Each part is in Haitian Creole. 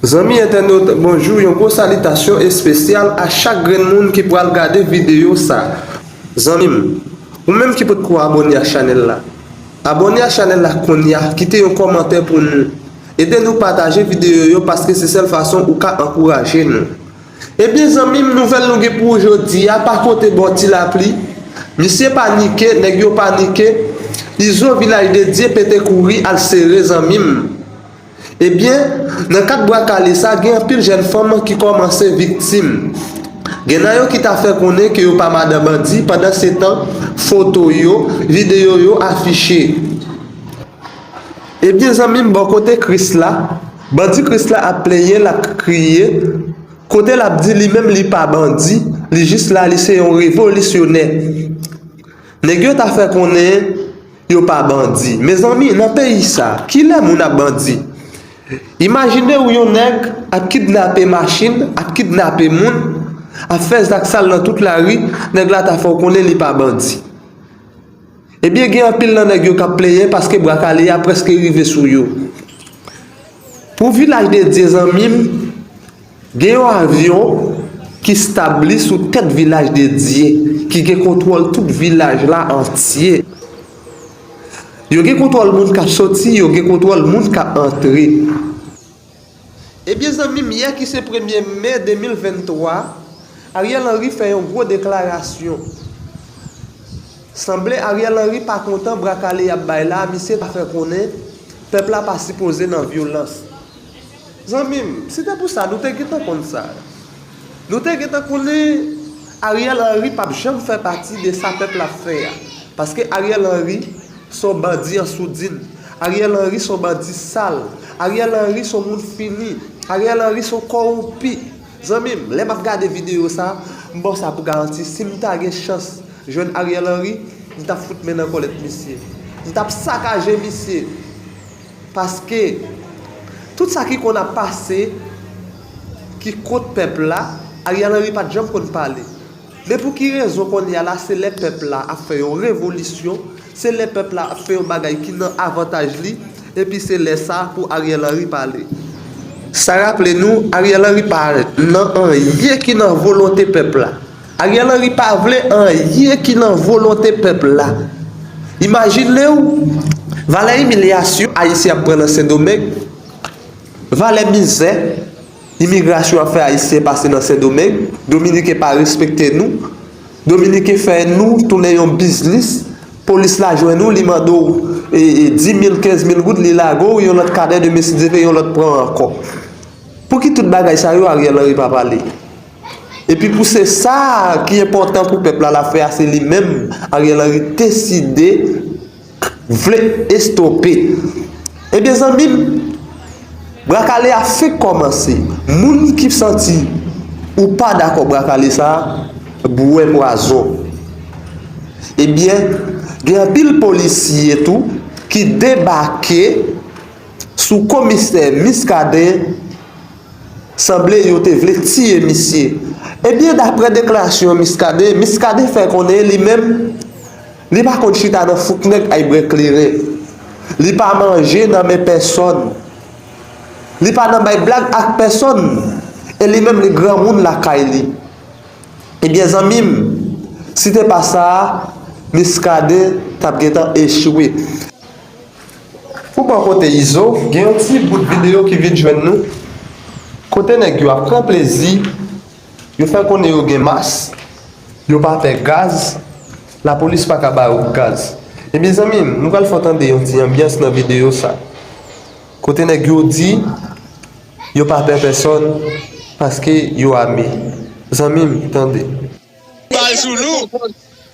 Zanmi entènot, bonjou, yon gwo salitasyon espesyal a chak grenn moun ki pral gade videyo sa. Zanmi m, ou menm ki potko abòne ak chanèl la, abòne ak chanèl la kounya, kite yon kòmantè pou nou, ede nou pataje videyo yo paske se sèl fason ou ka ankouraje nou. Ebyen zanmim nouvel nou gen pou ou jodia pa konte baw ti lapli misye panike neg yo panike izo vilaj de Dye pete kouri al sere zanmim ebyen nan kad bwa kale sa gen anpil jèn fanm ki komanse viktim gen nan yo ki ta fè konnen ke yo pa madan bandi pandan se tan foto yo video yo afiche ebyen zanmim bò kote Krisla. Bandi Krisla ap plenyen lap kriye kote lap di li menm li pa bandi li jis la li se yon revolisyonè nèg yo ta fè konnen yo pa bandi mezanmi nan peyi sa kilè moun ap bandi imajine ou yon nèg ap kidnape machin ap kidnape moun ap fè zak sal nan tout lari nèg la ta fè ou konnen li pa bandi. Ebyen gen anpil nan nèg yo kap plenyen paske bwa kale a preske rive sou yo Pou vilaj de Dye zanmim gen yon avyon ki stabli sou tèt vilaj de Dye ki gen kontwòl tout vilaj la antye Yo gen kontwòl moun kap soti yo gen kontwòl moun kap antre. Ebyen zanmim yè ki se premye me 2023 Ariel Henry fè yon gwo deklarasyon Sanble Ariel Henry pa kontan bra kale yap bay la misye ta fè konnen pèp la pa sipoze nan vyolans Zanmim si te pou sa nou te gentan konn sa. Nou te gentan konnen Ariel Henry pap janm fè pati de sa pèp la ap fè a. Paske Ariel Henry se yon bandi an soudin. Ariel Henry se yon bandi sal. Ariel Henry se yon moun fini. Ariel Henry se yon kowonpi. Zanmi m, lè m ap gade videyo sa, m ba w sa pou garanti, si m ta gen chans jwenn Ariel Henry, m t ap fout men nan kòlèt misye. M t ap sakaje misye. Paske, tout sa ki konn ap pase, ki kont pèp la, Ariel Henry pa t janm konn pale. Men pou ki rezon kounye a la se lè pèp la ap fè yon revolisyon, se lè pèp la ap fè yon bagay ki nan avantaj li, epi se lè sa pou Ariel Henry pale. Sa raple nou, Ariel Henry pa nan anyen ki nan volonte pèp la. Ariel Henry pa vle anyen ki nan volonte pèp la. Imajine w valè imilyasyon Ayisyen ap pran nan Sendomeng, valè mizè imigrasyon ap fè Ayisyen pase nan Sendomeng, Dominiken pa respekte nou, Dominiken fè nou tounen yon biznis, polis la jwenn ou li mande w di mil, kenz mil goud li lage w yon lòt kadè demen si Dye vle yon lòt pran ankò. Pou ki tout bagay sa yo Ariel Henry pa pale? Epi pou se sa ki enpòtan pou pèp la la fè a se li menm Ariel Henry deside vle estope. Ebyen zanmi m bra kale a fenk kòmanse moun ki santi ou pa dakò bra kale sa bwè pwazon. Ebyen gen anpil polisye tou ki debake sou komisè Muscadin. Sanble yo te vle tiye misye. Ebyen daprè deklarasyon Muscadin, Muscadin fè konnen li menm li pa konn chita nan fouk nèg ay bre kleren. Li pa manje nan men pèsòn. Li pa nan bay blag ak pèsòn e li menm li granmoun lakay li. Ebyen zanmi m, si te pa sa a Muscadin t ap gentan echwe. Pou bò kote Izo, gen yon ti bout videyo ki vin jwenn nou, kote nèg yo ap pran plezi, yo fè konnen yo gen mas, yo pa pè gaz, lapolis pa ka ba yo gaz. Men mezanmi, nou pral fè w tande yon ti anbyans nan videyo sa, kote nèg yo di yo pa pè pèsòn paske yo ame. Zanmi m, tande. Bal sou nou!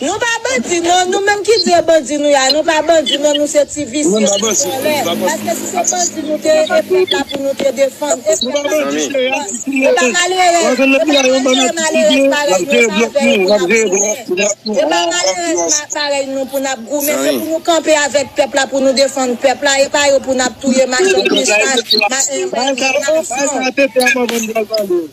Nou pa bandi non, nou menm ki di yo bandi nou ya, nou pa bandi non nou se ti visye, ti vòlè, paske si se bandi nou te ye e pèp la pou nou te defann, e pèp la pou nou defann, e pa malerèz, e pa malere malerèz parèy nou sa avè yo pou nap goumen, e pa malerèz parèy nou pou nap goumen, se pou nou kanpe avèk pèp la pou nou defann pèp la, e pa yo pou nap touye machann Kristan, machann Banisyon.